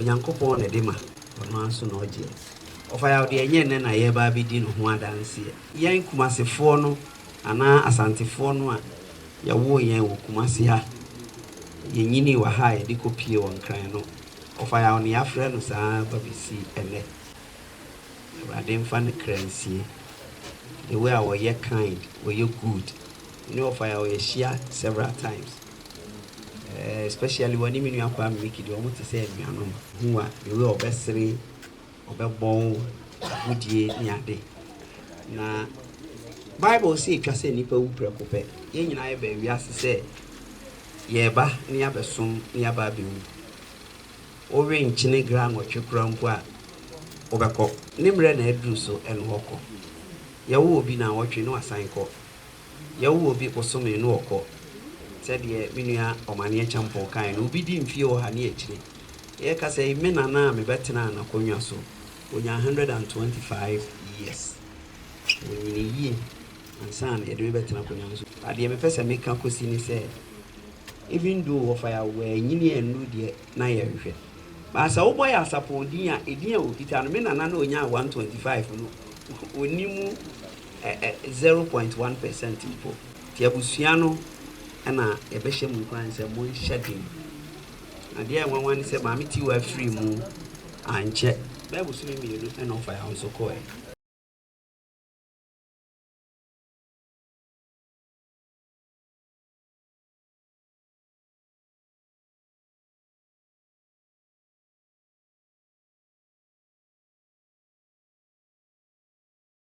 Onyankopɔn na ɛde ma, ɔno ara nso na ɔgyeɛ. Ɔfa yaw deɛ ɛnyɛ nnɛ na yɛreba abɛdi no ho adanseɛ. Yɛn Kumasefoɔ no anaa Asantefoɔ no a yɛwoo yɛn wɔ Kumase ha, yɛnyinii wɔ ha a yɛde kɔpie wɔ Nkran no, ɔfa yaw na yɛafrɛ no saa ara ba bɛsi ɛnnɛ. Awurade mfa ne kra nsie. The way a ɔyɛ kind, ɔyɛ good, ne ɔfa yaw yɛahyia several times. Eh especially wɔne me nua Kwame Micky deɛ wɔn te sɛ anuanom. Hu a the way ɔbɛsere, ɔbɛbɔ wo agodie ne ade. Na Bible se etwa sɛ nnipa wu prɛko pɛ. Yɛn nyinaa yɛbaa wiase sɛ yɛreba ne yɛabɛsom ne yɛaba abɛwu. Worenkyene granɔtwe koraa mpo a wobɛkɔ. Ne mmerɛ na aduru so ɛne hɔ kɔ. Yɛwo obi naawɔtwe na wasan kɔ. Yɛwo obi bosome no ɔkɔ, sɛdeɛ me nua Ɔmaneɛ Kyɛmpɔn kaeɛ no, obi di mfeɛ ɔha ne akyire. Yɛka sɛ me nana a mebɛtenaa n'akonnwa so, ɔnyaa 125 years. Ɔnyinii yie ansa na yɛde me bɛtena akonnwa no so. Na deɛ mepɛ sɛ meka kɔsi ne sɛ, even though wɔfa yɛ a, wɔanyini annuru deɛ na yɛhwehwɛ. But sɛ wobɔ yɛ Asapɔn din a, edin a ɔkita no, me nana no a ɔnyaa 125 no, ɔnni mu. ɛ ɛ zero point one pɛsɛnt mpo. Nti abusua no na yɛbɛhyɛ mo nkuran sɛ monhyɛ den. Na deɛ ɛyɛ nwanwa ne sɛ Maame Tiwaa firii mu ankyɛ bɛyɛ bosome mmienu na ɔfa yɛn ahosuo kɔeɛ.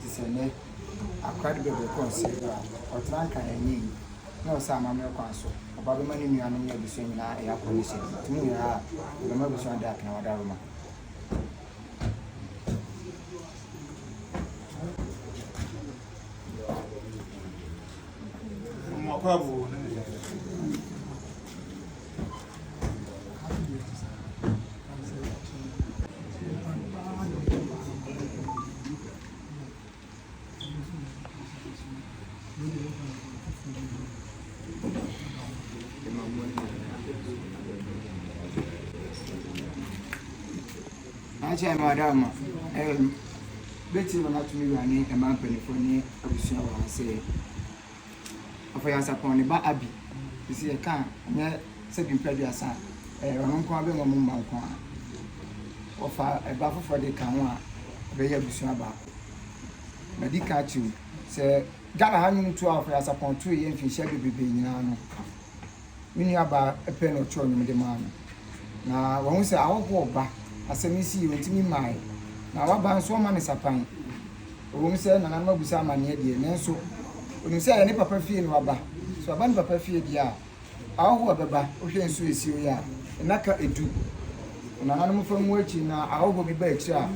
te sɛ nnɛ akora de bɛbrɛ kɔ nsɛe do a, ɔtena nka na ɛnyɛ yiye, na ɔsɛ amammerɛ kwan so, ɔba bɛma ne nuanom ne abusua nyinaa ayɛ akɔ ne hyɛde, enti mu nyinaa a, ɔbɛma abusua no de apene wɔn adaworoma. Mmoa pa abu ne ne yere. akyɛ no ada ma bɛti no natumi wura ne ɛma mpanifoɔ ne abusua wɔ ha sɛ Afɔyansapɔn ne ba Abby, sisi yɛka a, ɔnyɛ sɛbi mpra aduasa a, ɛɛ ɔno nko ara bɛma ɔmo mma nko ara. Wɔfa ɛba foforɔ de ka ho a, ɛbɛyɛ abusua baako. Madi kan akyerɛ mu sɛ Ghana ha nnwom tu a Afɔyansapɔn tueɛ mfinhyia bebrebe nyinaa no, me nuabaa pɛ na ɔkyerɛw nnwom de maa me. Na wahu sɛ ahɔho ɔba asɛm yi sii ɔnti me mae. Na waba nso ɔma me sapan. Ɛwom sɛ nananom abisa amanneɛ deɛ, nanso onim sɛ ɛyɛ ne papa fie na waba. Sɛ waba ne papa fie deɛ a, ahɔho a ɛbɛba, wohwɛ nsu a esi hɔ yi a, nnaka edu. Na nananom fa mu akyi na ahɔho bi ba akyiri a,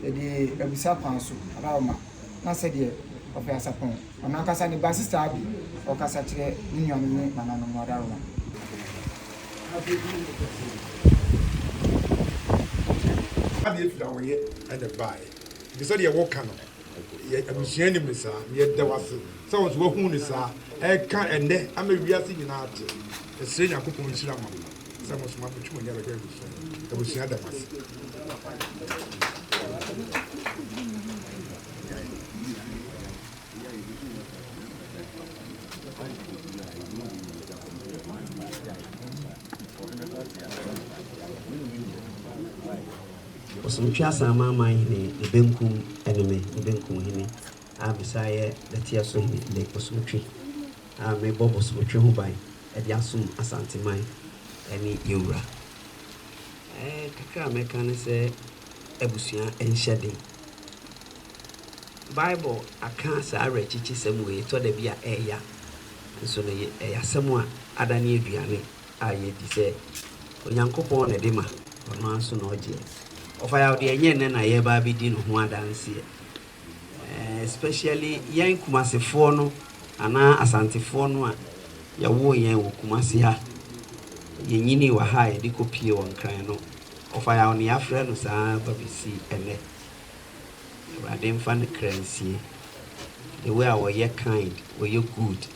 yɛde abisa kwan so, Adaoma, na sɛdeɛ ɔpɛ asapɔn. Ɔno ankasa ne basista bi ɔkasa kyerɛ ne nuanom ne nananom no adaworoma. Adeɛ bi ne mokɔ sɛ yɛ Adeɛ pii a wɔyɛ ɛna baeɛ nti sɛdeɛ woka no yɛ abusua nim no saa yɛda wo ase sɛ wo nso wahunu no saa ɛka ɛnɛ ama wiase nyinaa te mesrɛ Nyankopɔn nhyira ma mo sɛ mo nso ma mo twe mo ani abɛhwɛ abusua yi abusua da mo ase. Ɔsom Tweaseɛ Amanaman Hene ne benkum ne me, ne benkum hene a mesan yɛ Nɛteɛso Hene ne Ɔsom Twi a mebɔ Bosom Twi ho ban de asom Asanteman ne yɛn Wura. Ɛɛ kakra a mɛka ne sɛ abusua nhyɛ den. Bible aka saa awerɛkyekyesɛm wei tɔ da bi a ɛya, nso no ɛyɛ asɛm a ada ne aduane a yɛdi sɛ Onyankopɔn na ɛde ma, ɔno ara nso na ɔgyeɛ. Ɔfayaw deɛ ɛnyɛ nnɛ na yɛreba abɛdi no ho adanseɛ, especially yɛn Kumasefoɔ no anaa Asantefoɔ no a yɛwoo yɛn wɔ Kumase ha, yɛnyinii wɔ ha a yɛde kɔpie wɔ Nkran no. Ɔfayaw ne yɛafrɛ no saa ara ba besi ɛnnɛ. Awurade mfa ne kra nsie. The way a ɔyɛ kind, ɔyɛ good.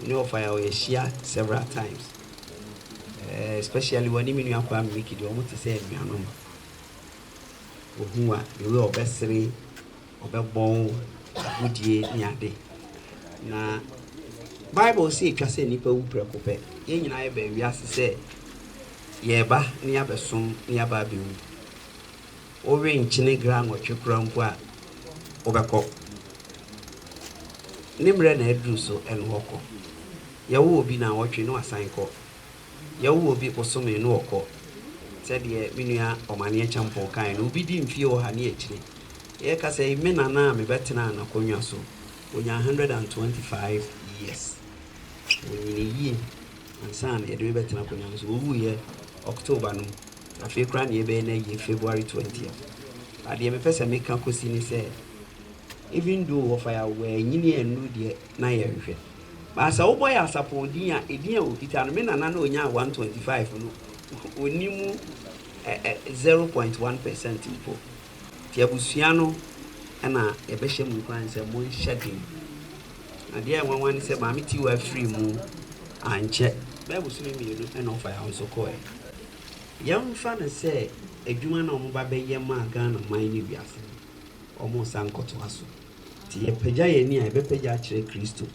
Me ne Ɔfayaw yɛahyia several times. Eh, especially ɔne me nua Kwame Micky deɛ, wɔn te sɛ anuanom. Ohu a, the way ɔbɛsere. ɔbɛbɔ wo agodie ne ade. Na Bible se etwa sɛ nnipa wu prɛko pɛ. Yɛn nyinaa yɛbaa wiase sɛ yɛreba na yɛabɛsom na yɛaba abɛwu. Worenkyene gra nwɔtwe koraa mpo a, wobɛkɔ. Ne mmerɛ na aduru so ɛne wɔkɔ. Yɛwo obi naawɔtwe na wasan kɔ. Yɛwo obi bosome no ɔkɔ, sɛdeɛ me nua Omaneɛ Kyɛmpoo kaeɛ no, obi di mfie ɔha ne akyire. Yɛka sɛ me nana a mebɛtenaa n'akonnwa so, ɔnyaa 125 years. Ɔnyinii yie ansa na yɛde me bɛtena akonnwa no so. Ɔwuiɛ October no, afei koraa na yɛbɛyɛ n'ayie February 20th. But deɛ mepɛ sɛ meka kɔsi ne sɛ, even though wɔfa yɛ a, wanyini annuru deɛ. na yɛnhwɛ. But sɛ wobɔ yɛ asapɔw din a, edin a okita no, me nana no a onyaa one twenty five no, onni mu ɛ ɛ zero point one percent mpo. Nti abusua no na yɛbɛhyɛ mo nkuran sɛ monhyɛ den. Na deɛ ɛyɛ nwanwa ne sɛ Maame Tiwa firii mu ankyɛ, bɛyɛ bosome mmienu na ɔfa yaw nso kɔeɛ. Yɛmfa no sɛ adwuma no a wɔba bɛyɛ maa Ghana man ne wiase no, wɔresan kɔtoa so. Nti yɛpagya yɛn ani a, yɛbɛpagya akyerɛ Kristo.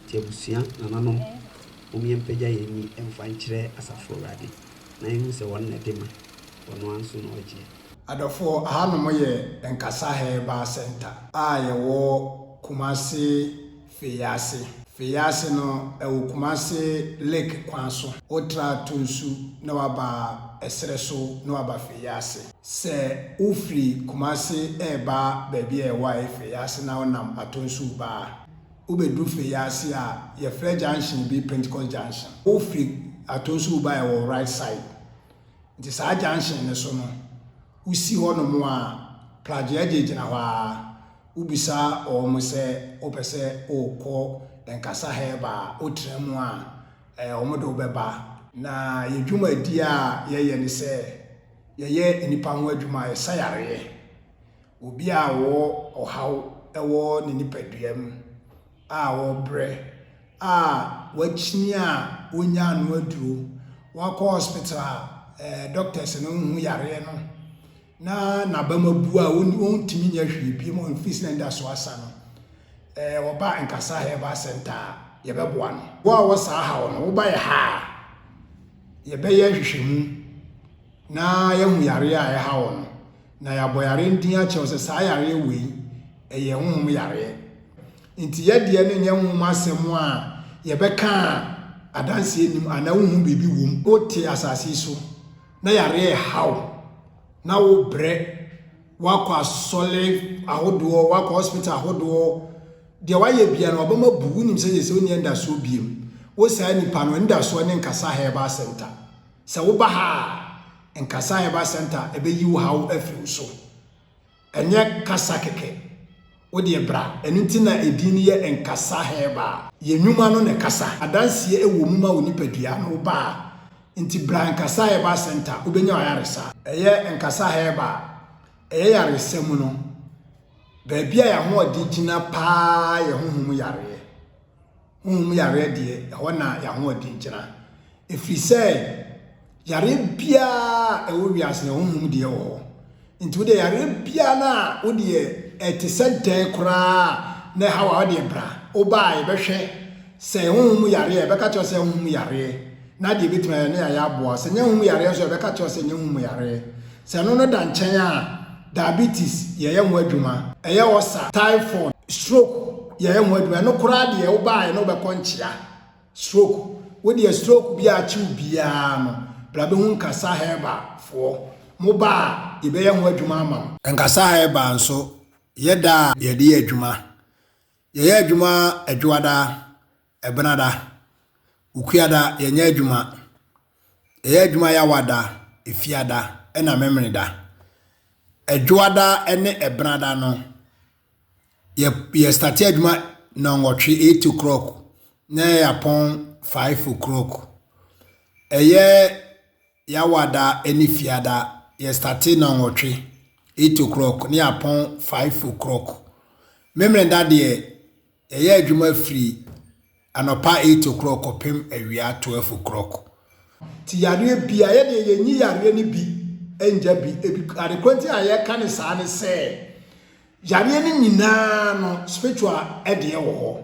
Nti abusua, nananom, mom yɛmpagya yɛn ani mfa nkyerɛ asafo Awurade, na yɛnhu sɛ ɔno na ɛde ma, ɔno ara nso na ɔgyeɛ. Adɔfoɔ, ahanom yɛ Nkasa Herbal Centre a yɛwɔ Kumasi Feyaase. Feyaase no, ɛwɔ Kumasi Lake kwan so. Wotra Tunsu na waba Ɛserɛ so na waba Feyaase. Sɛ wofiri Kumasi reba baabi a ɛwɔ Ayefei ase na wonam Atonsuo ba a, wobɛduru Fei ase a, yɛfrɛ junction bi Pentecost Junction. Wofiri Atonsuo ba a ɛwɔ wo right side nti saa junction no so no, wosi hɔnom a, Plagyeɛgye gyina hɔ ara. Wobisa wɔn sɛ wopɛ sɛ wokɔ Nkasa Herbal a, wotra mu a, wɔde wo bɛba. Na yɛn dwumadie a yɛyɛ ne sɛ, Yɛyɛ nnipa ho adwuma a, ɛsa yareɛ. Obi a ɔwɔ ɔhaw wɔ ne nipaduam a ɔrebrɛ a wakyini a ɔnnya ano aduro, wakɔ hospital a eh, doctors no nhu yareɛ no na n'abam abu a ɔntumi nyɛ hwee biem ɔmfiri sɛ nda so asa no, eh, ɔba nkasa herbal center a yɛbɛboa no. Wo a wɔ saa haw no, woba yɛ ha a, yɛbɛyɛ nhwehwɛmu na yɛahu yareɛ a ɛha wɔ no, na yɛabɔ yareɛ no din akyerɛ wo sɛ saa yareɛ wei ɛyɛ honhom yareɛ. Nti yɛdeɛ no nyɛ honhom asɛm a yɛbɛka a adanseɛ nim anaa wohu biribi wom. Wote asase yi so na yareɛ ɛha wo na wobrɛ, woakɔ asɔre ahodoɔ, woakɔ hospital ahodoɔ, Deɛ wayɛ biara no, wabam abu. Wonim sɛdeɛ sɛ wonni anidasoɔ biom. Wo saa nipa no, anidasoɔ ne Nkasa Herbal Centre. Sɛ woba ha a, Nkasa Herbal Centre ɛbɛyi wo haw afiri wo so. Ɛnyɛ kasa kɛkɛ. Wo deɛ bra. Ɛno nti na edin no yɛ Nkasa Herbal. Yɛn nnwuma no ne kasa. Adanseɛ ɛwɔ mu ma wo nipadua no, wo ba a. Nti bra Nkasa Herbal Centre, wobɛnya w'ayaresa. Ɛyɛ Nkasa Herbal. Ɛyɛ yaresa mu no. Baabi a yɛn ahoɔden gyina paa yɛ honhom yareɛ. Honhom yareɛ deɛ, ɛhɔ na yɛn ahoɔden gyina. Ɛfiri sɛ, yareɛ biara ɛwɔ wiase no, honhom deɛ wɔ hɔ. Nti wodeɛ yareɛ biara no a wodeɛ ɛte sɛ dɛn koraa na ɛha wo a wodeɛ bra. Wobaa yɛbɛhwɛ. Sɛ ɛyɛ honhom mu yareɛ a, yɛbɛka kyerɛ wo sɛ ɛyɛ honhom mu yareɛ, na adeɛ bɛtumi ayɛ ne ayɛ aboa wo. Sɛ ɛnyɛ honhom mu yareɛ nso a, yɛbɛka kyerɛ wo sɛ ɛnyɛ honhom mu yareɛ. Sɛ ɛno no da nkyɛn a, diabetes, yɛyɛ ho adwuma. Ɛyɛ ɔsa, typhoid, stroke, yɛyɛ ho adwuma. Ɛno koraa deɛ, wobaeɛ na wobɛkɔ nkyea. Stroke, wo deɛ stroke biara a akye wo biara no, bra bɛhu Nkasa Herbal foɔ. Moba a, yɛbɛyɛ ho adwuma ama wo. Nkasa Herbal nso, yɛ da a yɛde yɛ adwuma. Yɛyɛ adwuma Adwoada, Ɛbenada, Okuada, yɛnyɛ adwuma Yɛyɛ adwuma Yawada, Efiada, ɛna Memeneda. Adwoada ne Ɛbenada no, yɛ yɛ starte adwuma nnɔnwɔtwe, eight o'clock, na yɛapɔn five o'clock. Ɛyɛ y'awada ne fiada yɛ starte na nwɔtwe eight o'clock ne apɔn five o'clock memrenda deɛ yɛyɛ adwuma firi anɔpa eight o'clock kɔpem awia twelve o'clock ti yareɛ bia yɛ deɛ yɛnyi yareɛ no bi ngya bi ebi adekorɔ nti a yɛka ne saa ne sɛ Yareɛ no nyinaa no spiritual ɛdeɛ wɔ hɔ.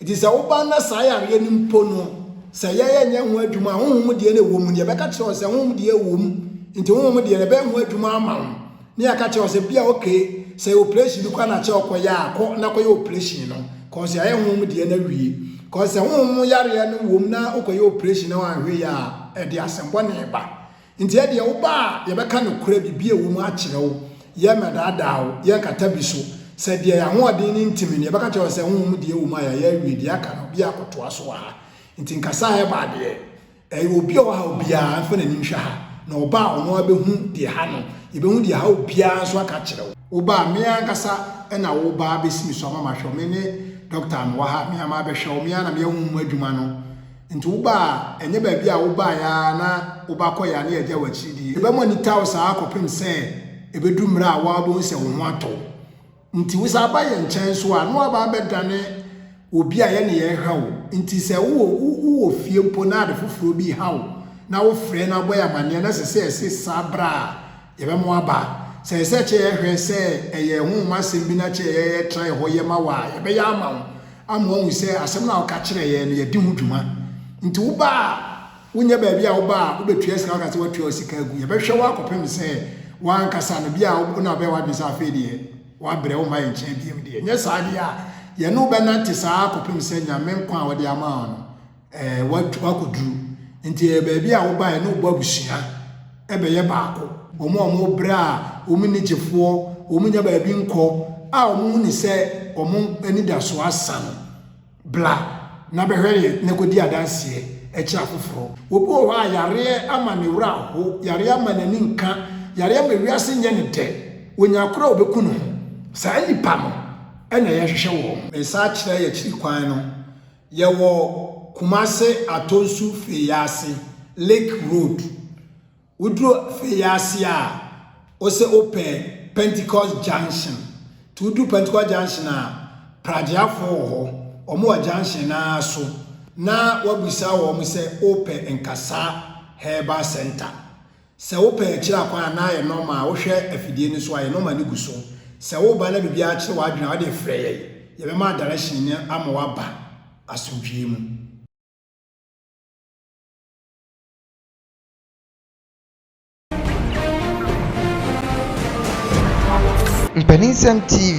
Nti sɛ woba na saa yareɛ no mpo no sɛ yɛyɛ nyɛ ho adwuma a honhom deɛ na ɛwɔ mu no yɛbɛka kyerɛ wo sɛ honhom deɛ ɛwɔ mu nti honhom deɛ ɛbɛyɛ ho adwuma ama wo ne yɛaka kyerɛ wo sɛ bia okay sɛ operation bi kora na kyɛ ɔkɔyɛ a kɔ na kɔyɛ operation no kɔsɛ ayɛ honhom deɛ na wie kɔsɛ honhom yareɛ no wɔ mu na wokɔyɛ operation na wanhwɛ yɛ a ɛde asɛmbɔ ne ba Nti ɛdeɛ woba a yɛbɛka nokorɛ biribi a ɛwɔ mu akyerɛ wo, yɛremmɛdaadaa wo, yɛrenkata bi so. Sɛ deɛ yɛn ahoɔden no ntumi no, yɛbɛka kyerɛ wo sɛ, Honhom deɛ ɛwɔ mu a yɛayɛ awie, deɛ aka no, obiara akɔtoa so wɔ ha. Nti nkasa a ɛba deɛ, ɛyɛ obi a ɔwɔ ha obiara mfa n'ani nhwɛ ha, na ɔba a ɔno ara bɛhu deɛ ha no, yɛbɛhu deɛ ha obiara nso aka akyerɛ wo. Woba a, me ankasa na woba abɛsi me so ama mahwɛ wo, me ne Dɔkta a mewɔ ha, me ara mabɛhwɛ wo, me ara na meahunu mo adwuma no. Nti woba a, ɛnyɛ baabi a wobaeɛ ara na wobakɔeɛ a na yɛagya wo akyiri die. Yɛbɛma anita wo saa ara kɔpem sɛ ɛbɛduru mmerɛ a wo ara wobɛhu sɛ wo ho atɔ wo. Nti wosan ba yɛn nkyɛn nso a, na woaba abɛdane obi a yɛne yɛrehwɛ wo. Nti sɛ wowɔ wowɔ fie mpo na ade foforɔ bi reha wo na wofrɛ na wobɔ yɛn amanneɛ na ɛsɛ sɛ yɛsesa berɛ a, Yɛbɛma ɔaba. Sɛ ɛsɛ sɛ ɛkyɛ yɛ hwɛ sɛ ɛyɛ honhom asɛm bi na kyɛ yɛ trae hɔ yɛ ma wo a, yɛbɛyɛ ama wo ama woahu sɛ asɛm no a woka kyerɛ yɛn no yɛde ho dwuma. Nti woba a, wonyɛ baabi a woba a wobɛtua sika woka sɛ woatua wo sika agu. Yɛbɛhwɛ wo akɔpem sɛ wo ankasa no, bi a wo na wobɛyɛ w'adwene sɛ afei deɛ woabrɛ, womma yɛn nkyɛn bio deɛ. Nyɛ saa deɛ a, yɛne wo bɛnante saa ara kɔpem sɛ Nyame nkwa a ɔde ama wo no Ɛɛ, woatwa, woakɔduru. Nti ɛyɛ baabi a wobaeɛ ne wobɔ abusua bɛyɛ baako. Wɔn a wɔbrɛ a wɔn nni gyefoɔ, wɔn nnya baabi nkɔ, a wɔn hu no sɛ wɔn anidasoɔ asa no, bla na bɛhwɛ yɛ na kɔdi adanseɛ kyerɛ afoforɔ. Obi wɔ hɔ a yareɛ ama ne werɛ aho, yareɛ ama n'ani nka, yareɛ ama wiase nyɛ no dɛ, ɔnya koro a ɔbɛku ne ho. Saa nnipa no na yɛhwehwɛ wɔn. Nsa akyerɛ yɛ akyiri kwan no. Yɛwɔ Kumase Atonsu Feyaase, Lake Road. Woduru Feyaase a, wo sɛ wopɛ Pentecost Junction. Nti woduru Pentecost Junction a, Pragyeafoɔ wɔ hɔ. Wɔn wɔ junction no ara so. Na woabisa wɔn sɛ wopɛ Nkasa Herbal Centre. Sɛ wo pɛn kyerɛ akwan a na ayɛ nɔma a wohwɛ afidie no so ayɛ nɔma no gu so. Sɛ wo ba na biribiara kyere w'adwene a wodeɛ frɛ yɛn. Yɛbɛma direction no ama w'aba asomdwoeɛ mu. Mpaninsɛm TV.